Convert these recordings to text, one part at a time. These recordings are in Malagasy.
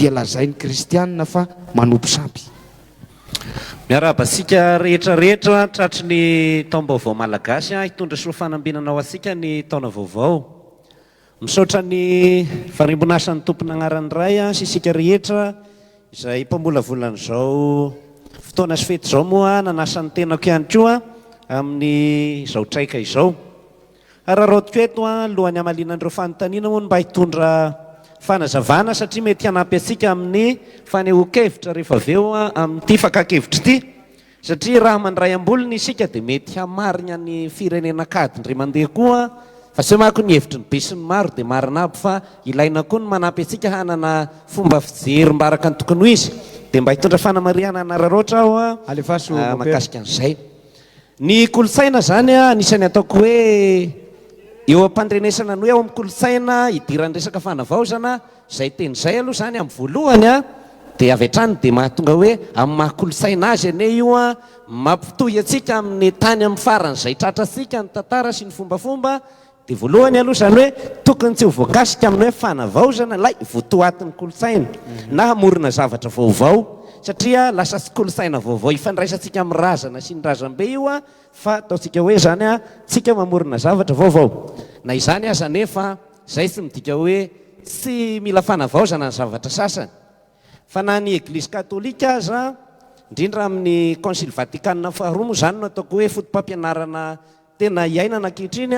dia lazain'ny kristianina fa manopy sampy. Miarahaba antsika rehetra rehetra tratry ny taom-baovao malagasy hitondra soa fanambinana ho antsika ny taona vaovao. Misaotra ny Varimbon'asan'ny Tompon' Agnaran'ny Ray sy isika rehetra izay mpamolavola an'izao fotoana sy fety izao moa nanasa ny tenako ihany koa amin'izao traika izao. Araraoty eto alohan'ny hamaliana an'ireo fanontaniana hono mba hitondra fanazavana satria mety hanampy antsika amin'ny fanehoan-kevitra rehefa avy eo amin'ity fakan-kevitra ity. Satria raha mandray am-bolony isika dia mety hamarigna ny firenena kady indray mandeha koa fa sao manko ny hevitry ny besinimaro dia marina aby fa ilaina koa ny manampy antsika hanana fomba fijery mba araka ny tokony ho izy. Dia mba hitondra fanamarihana an'Araraotra aho mahakasika an'izay. Ny kolontsaina zany anisany ataoko hoe eo ampandrenesana ny hoe ao am kolontsaina idiran'ny resaka fanavaozana zay teny zay aloha zany am voalohany a de avy hatrany de mahatonga hoe am maha kolontsaina azy anie io a mampitohy atsika amin'ny tany am faran'izay tratrantsika ny tantara sy ny fombafomba Dia voalohany aloha izany hoe tokony tsy ho voakasika amin'ny hoe fanavaozana ilay votoatin'ny kolontsaina na hamorona zavatra vaovao satria lasa tsy kolontsaina vaovao ifandraisantsika amin'ny razana sy ny razambe io fa ataontsika hoe izany tsika mamorona zavatra vaovao. Na izany aza anefa izay tsy midika hoe tsy mila fanavaozana ny zavatra sasany fa na ny Eglizy Katolika aza indrindra amin'ny Concile Vatican faharoa moa izany no ataoko hoe fotopampianarana tena iainana ankehitriny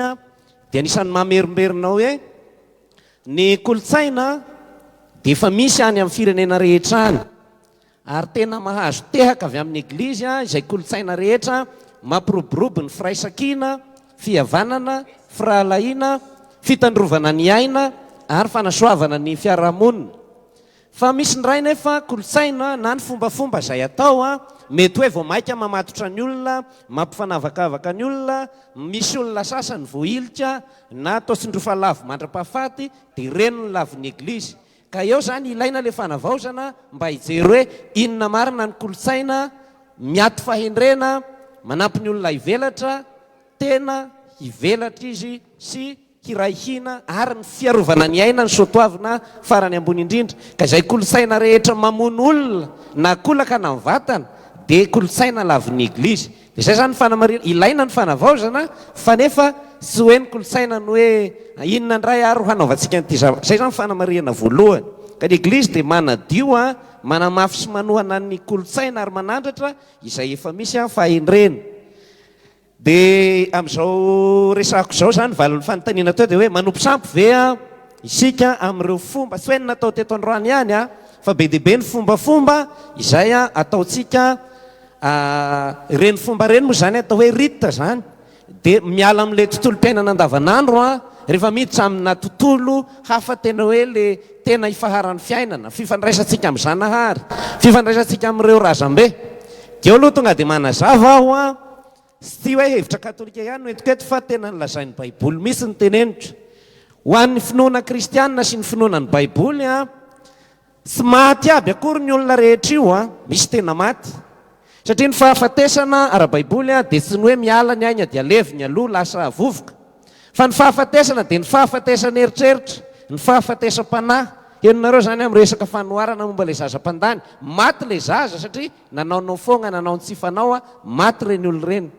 dia anisan'ny mamerimberina hoe ny kolontsaina dia efa misy any amin'ny firenena rehetra any ary tena mahazo tehaka avy amin'ny Eglizy izay kolontsaina rehetra mampiroborobo ny firaisankina, fihavanana, firahalahiana, fitandrovana ny aina ary fanasoavana ny fiarahamonina. Fa misy indray nefa kolontsaina na ny fombafomba izay atao mety hoe vao maika mamatotra ny olona, mampifanavakavaka ny olona, misy olona sasany voahilika na atao tsindrofa lavo mandrapahafaty dia reny ny lavon'ny eglizy. Ka eo izany ilaina ilay fanavaozana mba hijery hoe inona marina ny kolontsaina miato fahendrena manampy ny olona hivelatra tena hivelatra izy sy Hiray hina ary ny fiarovana ny aina ny soatoavina farany ambony indrindra ka izay kolontsaina rehetra mamono olona na kolaka na mivatana dia kolontsaina lavin'ny eglizy dia izay izany ny fanamarihana ilaina ny fanavaozana fa nefa tsy hoe ny kolontsaina no hoe inona indray ary ho hanaovantsika an'ity izay izany ny fanamarihana voalohany ka ny eglizy dia manadio an manamafy sy manohana ny kolontsaina ary manandratra izay efa misy an fahendrena Dia amin'izao resahako izao izany, valin'ny fanontaniana teo dia hoe, manompo sampy ve isika amin'ireo fomba tsy hoe ny natao teto androany ihany fa be dia be ny fombafomba izay ataontsika, ireny fomba ireny moa izany atao hoe rites izany dia miala amin'ilay tontolom-piainana andavanandro rehefa miditra amina tontolo hafa tena hoe ilay tena ifaharan'ny fiainana, fifandraisantsika amin'i Zanahary, fifandraisantsika amin'ireo razambe. Dia eo aloha tonga dia manazava aho. sy tsy hoe hevitra katolika ihany no entiko eto fa tena ny lazain'ny baiboly mihitsy no teneniko ho an'ny finoana kristianina sy ny finoana ny baiboly an tsy maty aby akory ny olona rehetra io an misy tena maty satria ny fahafatesana ara-baiboly an dia tsy ny hoe miala ny aigna dia levy ny aloha lasa havovoka fa ny fahafatesana dia ny fahafatesan'ny eritreritra ny fahafatesam-panahy henonareo izany amin'ny resaka fanoharana momba ilay zaza mpandany maty ilay zaza satria Nanao no fogna nanao ny tsy fanao a, maty reny olo reny.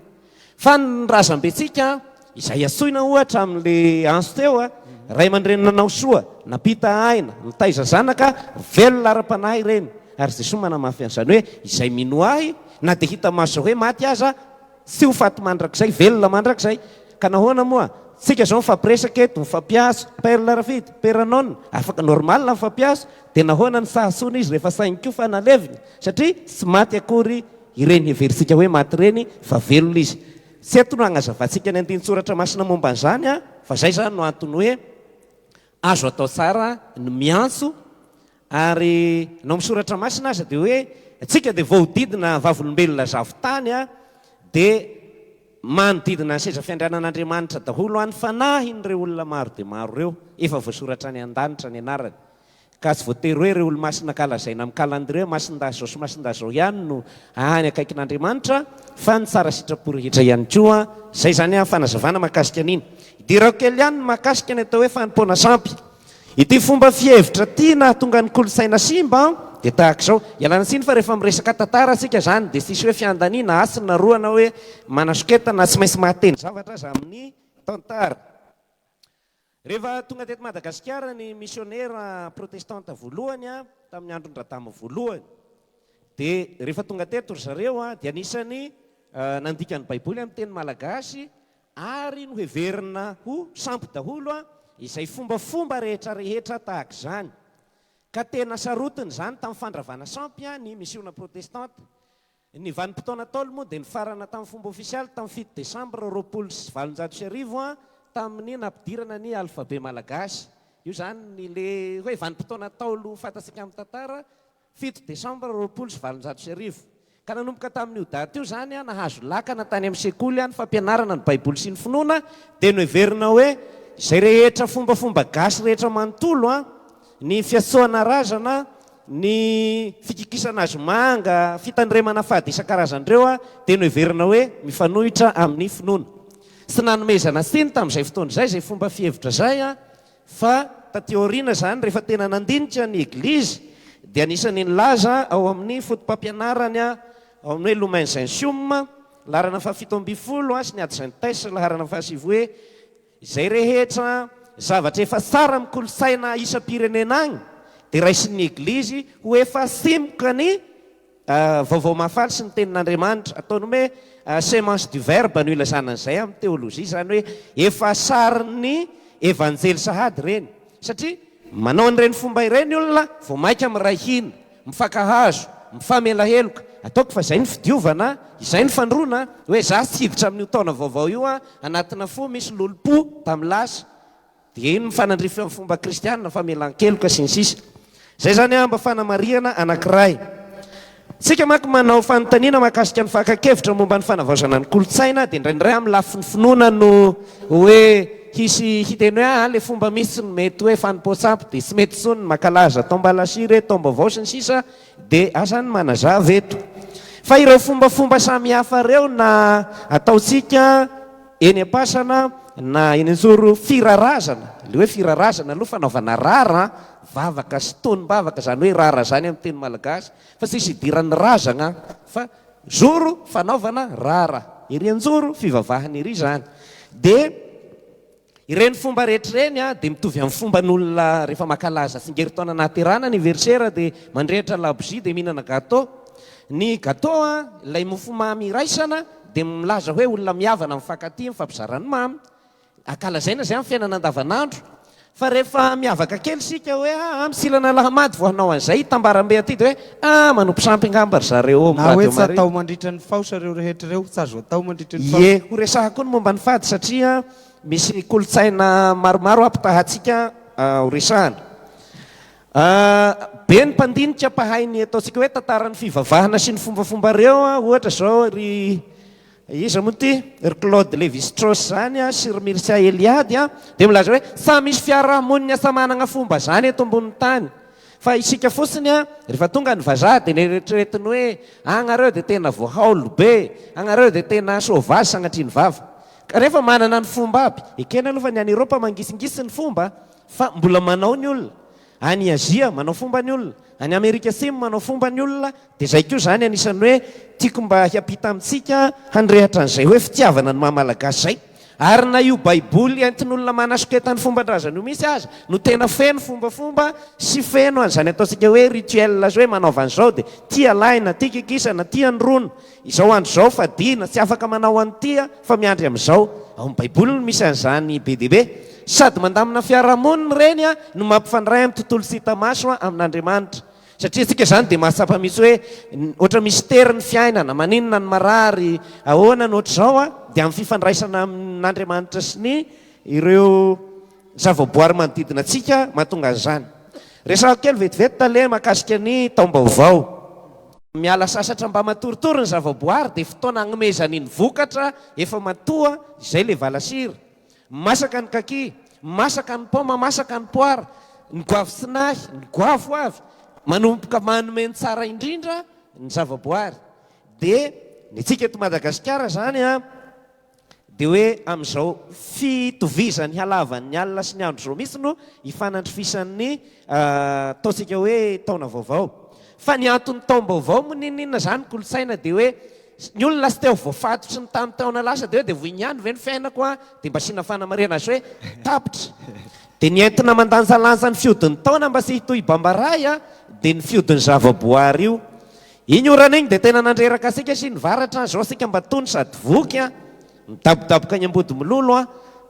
Fa ny razambentsika izay iantsoina ohatra amin le antso teo a, ray aman-dreny nanao soa, nampita aina, nitaiza zanaka velona ara-panahy ireny, ary Jesoa manamafy an'izany hoe izay minoa Ahy na dia hita maso zao hoe maty aza, Tsy ho faty mandrakizay, velona mandrakizay. Ka nahoana moa? Tsika izao mifampiresaka eto, mifampihazo, Perle Rafidy, Peranon, afaka normal ny mifampihazo, dia nahoana ny saha soa n'izy rehefa sainy koa fa naleviny? Satria tsy maty akory ireny heverintsika hoe maty ireny fa velona izy. Tsy eto no hagnazavantsika ny andinin-tsoratra masina momba an'izany fa izay izany no antony hoe azo atao tsara ny miantso Ary ny ao amin'ny Soratra Masina aza dia hoe, Antsika dia voahodidina vavolombelona zavon-tany, dia manodidina ny seza fiandrianan'Andriamanitra daholo ny fanahin'ireo olona maro dia maro ireo, efa voasoratra any an-danitra ny anarany. Ka tsy voatery hoe ireo olo-masina ka lazaina amin'ny kalandrie hoe masindahy izao sy masindahy izao ihany no any akaikin'Andriamanitra, fa ny tsara sitrapo rehetra ihany koa. Izay izany fanazavana mahakasika an'iny. Idirako kely ihany ny mahakasika ny atao hoe fanompoana sampy. Ity fomba fihevitra ity nahatonga ny kolontsaina simba dia tahaka izao, ialana tsiny fa rehefa miresaka tantara isika izany dia tsisy hoe fiandaniana, hasina, roa na hoe manasoketana, tsy maintsy mahateny zavatra aza amin'ny tantara. Rehefa tonga teto Madagasikara ny misionera protestanta voalohany tamin'ny andron-dRadama voalohany dia rehefa tonga teto ry zareo dia anisan'ny nandika ny baiboly amin'ny teny malagasy ary noheverina ho sampy daholo izay fombafomba rehetra rehetra tahaka izany, ka tena sarotiny izany tamin'ny fandravana sampy ny misiona protestanta. Ny vanim-potoana Ntaolo moa dia nifarana tamin'ny fomba ofisialy tamin'ny fito desambra roapolo sy valonjato sy arivo tamin'ny nampidirana ny alfabe malagasy. Io izany ilay hoe vanim-potoana Ntaolo fantatsika amin'ny tantara Fito desambra roapolo sy valonjato sy arivo, ka nanomboka tamin'io daty io izany nahazo lakana tany amin'ny sekoly ny fampianarana ny Baiboly sy ny finoana, dia noheverina hoe izay rehetra fombafomba gasy rehetra manontolo, ny fiantsoana razana, ny fikikisana hazomanga, fitandremana fady isan-karazany ireo dia noheverina hoe mifanohitra amin'ny finoana. Tsy nanomezana tsiny tamin'izay fotoana izay izay fomba fihevitra izay. Fa taty aoriana izany rehefa tena nandinika ny Eglizy dia anisan'ny nilaza ao amin'ny fotopampianarany ao amin'ny hoe Lumen Gentium, laharana fahafito ambin'ny folo, sy ny Ad Gentes, laharana fahasivy hoe Izay rehetra zavatra efa tsara amin'ny kolontsaina isam-pirenena agny dia raisin'ny Eglizy ho efa simoka ny Vaovao mahafaly sy ny Tenin'Andriamanitra. Ataony hoe semence du verbe no ilazana an'izay amin'ny teolojia. Izany hoe efa sarin'ny Evanjely sahady ireny. Satria manao an'ireny fomba ireny olona vao maika miray hina, mifankahazo, mifamela heloka. Ataoko fa izay ny fidiovana, izay ny fandroana, hoe izaho tsy hiditra amin'io taona vaovao io anatina fo misy lolompo tamin'ny lasa. Dia iny ny fanandrify amin'ny fomba kristiana, famelan-keloka, sy ny sisa Izay izany aho mba fanamarihana anankiray. Isika manko manao fanontaniana mahakasika ny fakan-kevitra momba ny fanavaozana ny kolontsaina dia indraindray amin'ny lafiny finoana no hoe hisy hiteny hoe aa le fomba misy tsy mety hoe fanompoan-tsampy dia tsy mety intsony ny makalaza atao mbalasy re taom-baovao sy ny sisa dia aza ny manazava eto fa ireo fombafomba samihafa ireo na ataontsika Eny am-pasana na eny an-joro firarazana, le hoe firarazana aloha fanaovana rara vavaka sy tonom-bavaka zany hoe rara zany amin'ny teny malagasy fa tsisy idiran'ny razagna fa zoro fanaovana rara ery an-joro fivavahana ery zany de ireny fomba rehetra ireny a de mitovy amin'ny fomban'olona rehefa makalaza tsingerin-taona nahaterahana anniversaire de mandrehitra labozia de mihinana gateau ny gateau a ilay mofomamy iraisana dia milaza hoe olona mihavana amin'ny mifankatia, mifampizara ny mamy, ankalazaina izay amin'ny fiainana andavanandro. Fa rehefa miavaka kely isika hoe aa misilana lahamady vao hanao an'izay hitambaram-be aty dia hoe aa manompo sampy angamba ry zareo ao amin'ny radio maria. Na hoe tsy atao mandritra ny faosa ireo rehetra ireo, tsy azo atao mandritra ny faosa. Ie, horesahako koa ny momba ny fady satria misy kolontsaina maromaro hampitahantsika horesahana. Be ny mpandinika mpahay ny ataontsika hoe tantaran'ny fivavahana sy ny fombafomba ireo, ohatra izao ry iza moa ity? ry Claude Lévi-Strauss izany sy ry Mircea Eliade dia milaza hoe samy misy fiarahamonina samy manana fomba izany eto ambonin'ny tany fa isika fotsiny rehefa tonga ny vazaha dia neritreretiny hoe agnareo dia tena voahaolo be, agnareo dia tena sauvage sagnatria ny vava kanefa manana ny fomba aby, ekena aloha fa ny any Eropa mangisingisy ny fomba Fa mbola manao ny olona. Any Azia, manao fomba ny olona. Any Amerika Atsimo, manao fomba ny olona. Dia izay koa izany anisan'ny hoe tiako mba hiampita amintsika handrehitra an'izay hoe fitiavana ny maha Malagasy izay. Ary na io Baiboly entin'olona manasoketa ny fomban-drazany io mihitsy aza no tena feno fombafomba sy feno an'izany ataontsika hoe rituels sy hoe manaova an'izao dia tia lahy na tia kikisa na tia ny rony Izao andro izao fadiana, tsy afaka manao an'ity aho fa miandry amin'izao. Ao amin'ny Baiboly no misy an'izany be dia be. Sady mandamina fiarahamonina ireny no mampifandray amin'ny tontolo tsy hita maso amin'Andriamanitra. Satria antsika izany dia mahatsapa mihitsy hoe ohatra misy tery ny fiainana, maninona no marary, ahoana no ohatr'izao dia amin'ny fifandraisana amin'Andriamanitra sy ny ireo Ny zavaboary manodidina antsika mahatonga an'izany. Resahako kely vetivety tale mahakasika ny taom-baovao. Miala sasatra mba matoritory ny zavaboary dia fotoana agnomezany ny vokatra efa matoa izay ilay valasira. Masaka ny kaki, masaka ny paoma, masaka ny poara, ny goavy tsy nahy, ny goavy ho avy. Manomboka manome ny tsara indrindra ny zavaboary. Dia ny antsika eto Madagasikara izany an! Dia hoe amin'izao fitovizan'ny halavan'ny alina sy ny andro izao mihitsy no ifanandrifisan'ny ataontsika hoe taona vaovao. Fa ny anton'ny taom-baovao moa n'inon'inona izany kolontsaina dia hoe ny olona lasa te ho voafatotry ny tamin'ny taona lasa dia hoe dia voy ihany ve ny fiainako an? dia mba asiana fanamarihana azy hoe tapitra. Dia ny entina mandanjalanja ny fihodin'ny taona mba tsy hitohy bambaraha dia ny fihodin'ny zavaboary io. Iny orana iny dia tena nandreraka asika sy ny varatra a! Zao asika mba tony sady voky a! Midabodaboka any Ambodimilolo a!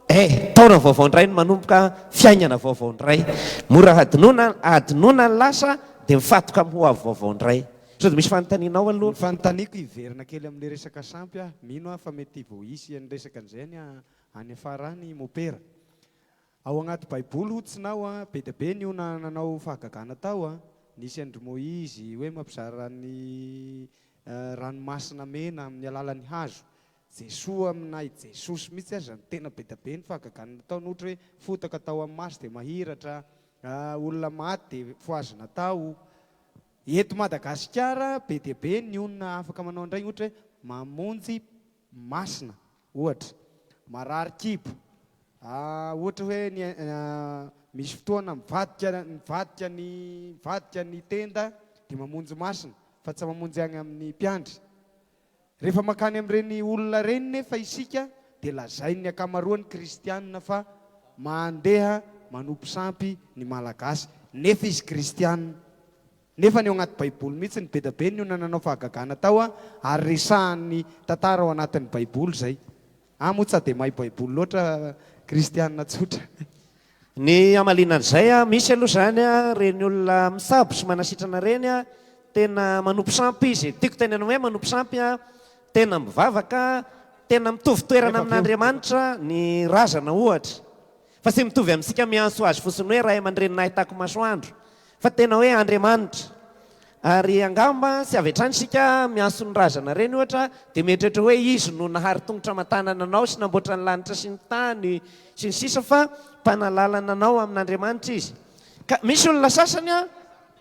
Eh! Taona vaovao indray no manomboka a! Fiainana vaovao indray! Mora hadinoina hadinoina ny lasa dia mifatoka amin'ny hoavy vaovao indray! Sao dia misy fanontaniana ao aloha? Ny fanontaniako hiverina kely amin'ny resaka sampy aho, mino aho fa mety voaisy an'ny resaka an'izay any any afara any mopera. Ao agnaty baiboly hoy tsinao a, be dia be ny ona nanao fahagagana tao a, nisy an-dry Moizy hoe mampizara ny ranomasina mena amin'ny alalan'ny hazo, Jesoa aminà i Jesosy mihitsy aza no tena be dia be ny fahagagana nataony ohatra hoe fotaka tao amin'ny maso dia mahiratra, olona maty dia fohazina tao, eto Madagasikara be dia be ny ona afaka manao an'ireny ohatra hoe mamonjy masina Ohatra, marary kibo, ohatra hoe ny misy fotoana mivadika mivadika ny mivadika ny tenda dia mamonjy masina fa tsy mamonjy any amin'ny mpiandry. Rehefa mankany amin'ireny olona ireny nefa isika dia lazain'ny ankamaroan'ny kristianina fa mandeha manompo sampy ny Malagasy nefa izy kristianina. Nefa ny ao anaty baiboly mihitsy ny bedabe ny olona nanao fahagagana tao a, ary resahan'ny tantara ao anatin'ny baiboly izay. A moa tsa dia mahay baiboly loatra kristiana tsotra. Ny hamaliana an'izay a, misy aloha izany a, ireny olona mitsabo sy manasitrana ireny a, tena manompo sampy izy, tiako tenena hoe manompo sampy a, tena mivavaka, tena mitovy toerana amin'Andriamanitra ny razana ohatra, Fa tsy mitovy amintsika miantso Azy fotsiny hoe Ray aman-dReny nahitako masoandro, fa tena hoe Andriamanitra. Ary angamba tsy avy hatrany isika miantso ny Razana ireny ohatra dia mieritreritra hoe Izy no nahary tongotra aman-tanana anao sy namboatra ny lanitra sy ny tany sy ny sisa fa Mpanalalana anao amin'Andriamanitra Izy. Ka misy olona sasany an,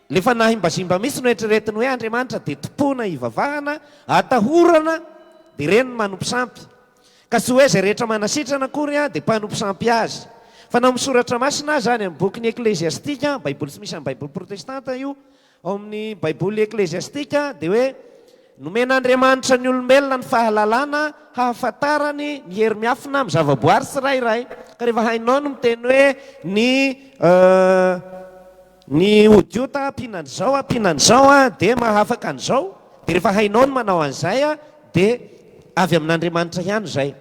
le fanahimbazimba mihitsy no eritreretiny hoe Andriamanitra dia tompona hivavahana, atahorana dia ireny no manompo sampy. Ka tsy hoe izay rehetra manasitrana akory dia mpanompo sampy azy. Fa na ao amin'ny Soratra Masina aza, any amin'ny bokin'ny Ekleziastika, Baiboly tsy misy amin'ny Baiboly Protestanta io, ao amin'ny Baiboly Ekleziastika dia hoe, Nomen'Andriamanitra ny olombelona ny fahalalana hahafantarany ny hery miafina amin'ny zavaboary tsirairay. Ka rehefa hainao ny miteny hoe ny. Ny odiota ampiana an'izao, ampiana an'izao dia mahafaka an'izao, dia rehefa hainao ny manao an'izay dia avy amin'Andriamanitra ihany izay.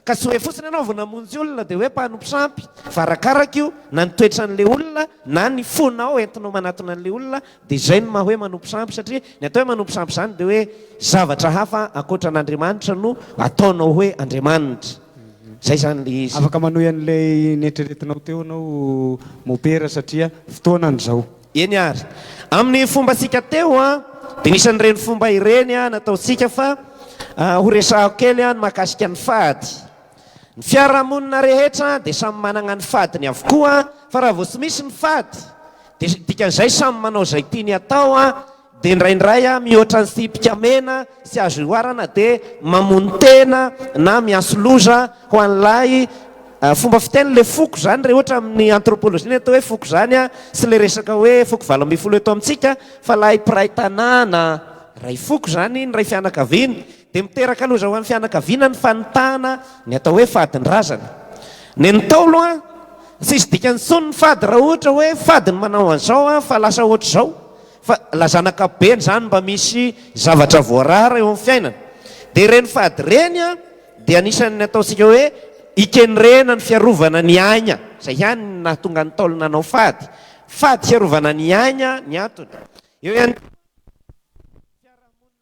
Ka tsy hoe fotsiny ianao vao namonjy olona dia hoe mpanompo sampy, fa arakaraka io, na ny toetran'ilay olona na ny fonao entinao manatona an'ilay olona, dia izay no maha hoe manompo sampy, satria ny atao hoe manompo sampy izany dia hoe zavatra hafa ankoatra an'Andriamanitra no ataonao hoe Andriamanitra. Zay zany le izy. Afaka manohy an'ilay neritreretinao teo ianao mopera satria fotoanany zao. Eny ary. Amin'ny fombantsika teo an, dia nisy an'ireny fomba ireny nataontsika fa horesahako kely ny mahakasika ny fady. Ny fiarahamonina rehetra dia samy managna ny fadiny avokoa fa raha vao tsy misy ny fady dia dikan'izay samy manao izay tiany atao. Dia indraindray mihoatra ny tsipika mena sy azo ihoarana dia mamono tena na miaso loza ho an'ilay fomba fiteny ilay foko. Izany re ohatra amin'ny anthropologie ny atao hoe foko izany sy ilay resaka hoe foko valo ambin'ny folo eto amintsika fa ilay mpiray tanàna iray foko izany ny iray fianakaviana dia miteraka loza ho an'ny fianakaviana ny fanitahana ny atao hoe fadin-drazana. Ny an'ny Ntaolo an! Tsisy dikany intsony ny fady raha ohatra hoe fady ny manao an'izao an fa lasa ohatr'izao Fa lazana ankapobeny izany mba misy zavatra voarara eo amin'ny fiainana. Dia ireny fady ireny dia anisan'ny ataontsika hoe ikenrena ny fiarovana ny aigna. Izay ihany no nahatonga ny Ntaolo nanao fady. Fady hiarovana ny aigna ny antony. Eo ihany koa ny fiarahamonina.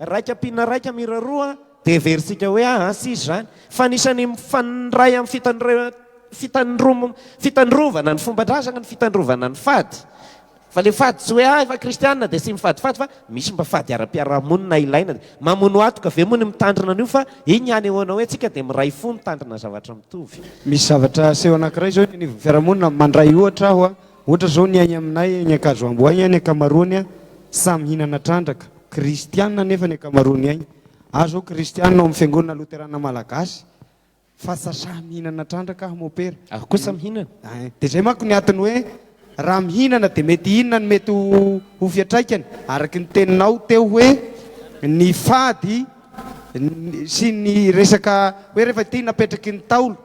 raika mpina raika mira roa dia versika hoe ah, ah sisy izany fa anisany mifandray amin'ny fitandrovana ny fomba-drazana ny fitandrovana ny fady Fa le fady tsy hoe ah efa kristianina dia tsy mifadifady fa misy mba fady ara-piarahamonina ilaina dia mamono atoka ve moa ny mitandrina an'io fa iny ihany ahoana hoe tsika dia miray fo mitandrina zavatra mitovy. Misy zavatra aseho anankiray zao eny anivon'ny fiarahamonina mandray ohatra aho a, ohatra zao ny any aminay any Ankazoambo any ny ankamaroany a samy mihinana trandraka, kristianina anefa ny ankamaroany any, ahy zao kristianina ao amin'ny fiangonana loterana malagasy Fa sasà mihinana trandraka aho mopera. Aho kosa mihinana. Ein. Dia izay manko ny atiny hoe raha mihinana dia mety inona no mety ho fiatraikany? Araky ny teninao teo hoe ny fady sy ny resaka hoe rehefa ity napetraky ny Ntaolo,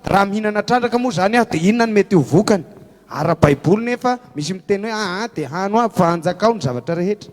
raha mihinana trandraka moa izany aho dia inona no mety ho vokany? Ara-baiboly nefa misy miteny hoe aa dia hano aby fa anjakao ny zavatra rehetra.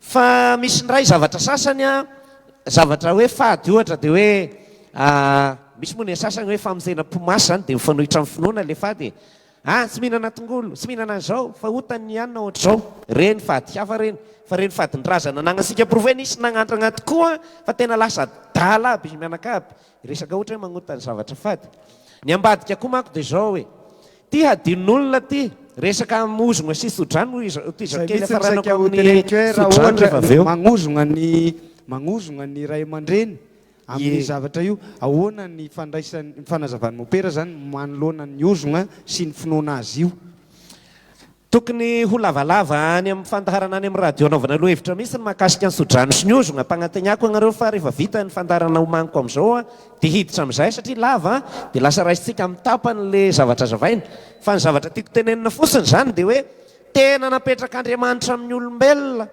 Fa misy ndray zavatra sasany an, zavatra hoe fady ohatra dia hoe misy moa ny sasany hoe famonjenam-po masy izany dia mifanohitra amin'ny finoana ilay fady e. Ah tsy mihinana tongolo, tsy mihinana an'izao fa otany ny hanina ohatr'izao. Ireny fady hafa ireny. Fa ireny fadin-drazana ananantsika porofo hoe nisy nagnandragna tokoa fa tena lasa adala aby izy mianakavy. Resaka ohatra hoe magnota ny zavatra fady. Ny ambadika koa manko dia izao e. Ty hadinon'olona ty, resaka hamozogna sy tsodrano hoy iza, tohizo Zay kely mihitsy no hafaranako saika ho amin'ny teneniko hoe raha tsodrano ohatra rehefa avy eo. magnozogna ny magnozogna ny ray aman-dreny amin'io Ie. zavatra io, ahoana ny fandraisan'ny, ny fanazavan'i Mopera zany manoloana ny ozogna sy ny finoana azy io? Tokony ho lavalava any amin'ny fandaharana any amin'ny radio anaovana lohahevitra mihitsy ny mahakasika ny sodrano sy ny ozona. Ampagnanteniako anareo fa rehefa vita ny fandaharana omaniko amin'izao dia hiditra amin'izay satria lava dia lasa raisintsika amin'ny tapany ilay zavatra zavaina. Fa ny zavatra tiako tenenina fotsiny izany dia hoe tena napetrak'Andriamanitra amin'ny olombelona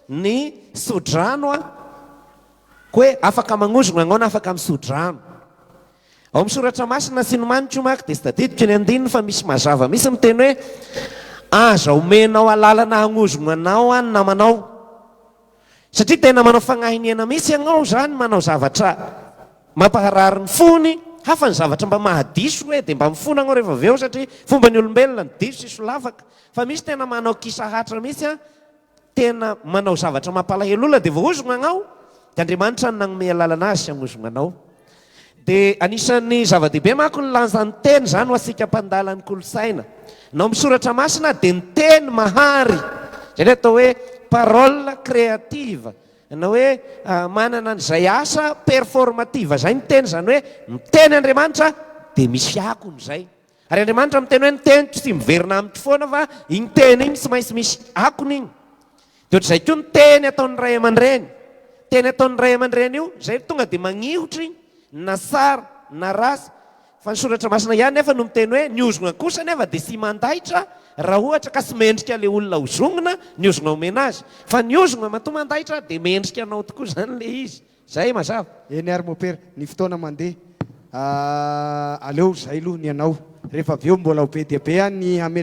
ny sodrano koa hoe afaka magnozona anao na afaka misodrano. Ao amin'ny soratra masina sy ny maniko manko dia tsy tadidiko ny andininy fa misy mazava mihitsy miteny hoe aza omenao alalana hagnozogno anao an namanao satria tena manao fagnahiniana mihitsy ianao zany manao zavatra mampaharary ny fony hafa ny zavatra mba mahadiso hoe dia mba mifona anao rehefa avy eo satria fomba ny olombelona ny diso sy solafaka fa misy tena manao kisahatra mihitsy an tena manao zavatra mampalahelo olona dia voahozogna agnao dia Andriamanitra no nagnome alalana azy hagnozogna anao dia anisan'ny zava-dehibe manko ny lanjan'ny teny zany ho antsika mpandala ny kolontsaina ny ao amin'ny soratra masina dia ny teny mahary zay le atao hoe parole créative na hoe manana an'izay asa performative zay ny teny zany hoe miteny Andriamanitra dia misy akony zay Ary Andriamanitra miteny hoe ny teniko tsy miverina amiko foana fa iny teny iny tsy maintsy misy akony iny. Dia ohatr'izay koa ny teny ataon'ny ray aman-dreny. Teny ataon'ny ray aman-dreny io, izay tonga dia magnihotra iny, na tsara na ratsy. Fa ny soratra masina ihany nefa no miteny hoe ny ozona kosa anefa dia tsy mandaitra raha ohatra ka tsy mendrika ilay olona hozongina ny ozona omena azy. Fa ny ozona matoa mandaitra dia mendrika anao tokoa izany ilay izy. Zay mazava. Eny ary mopera, ny fotoana mandeha ah aleo zay loha ny anao refa avy eo mbola ho be dia be any ny hametraka.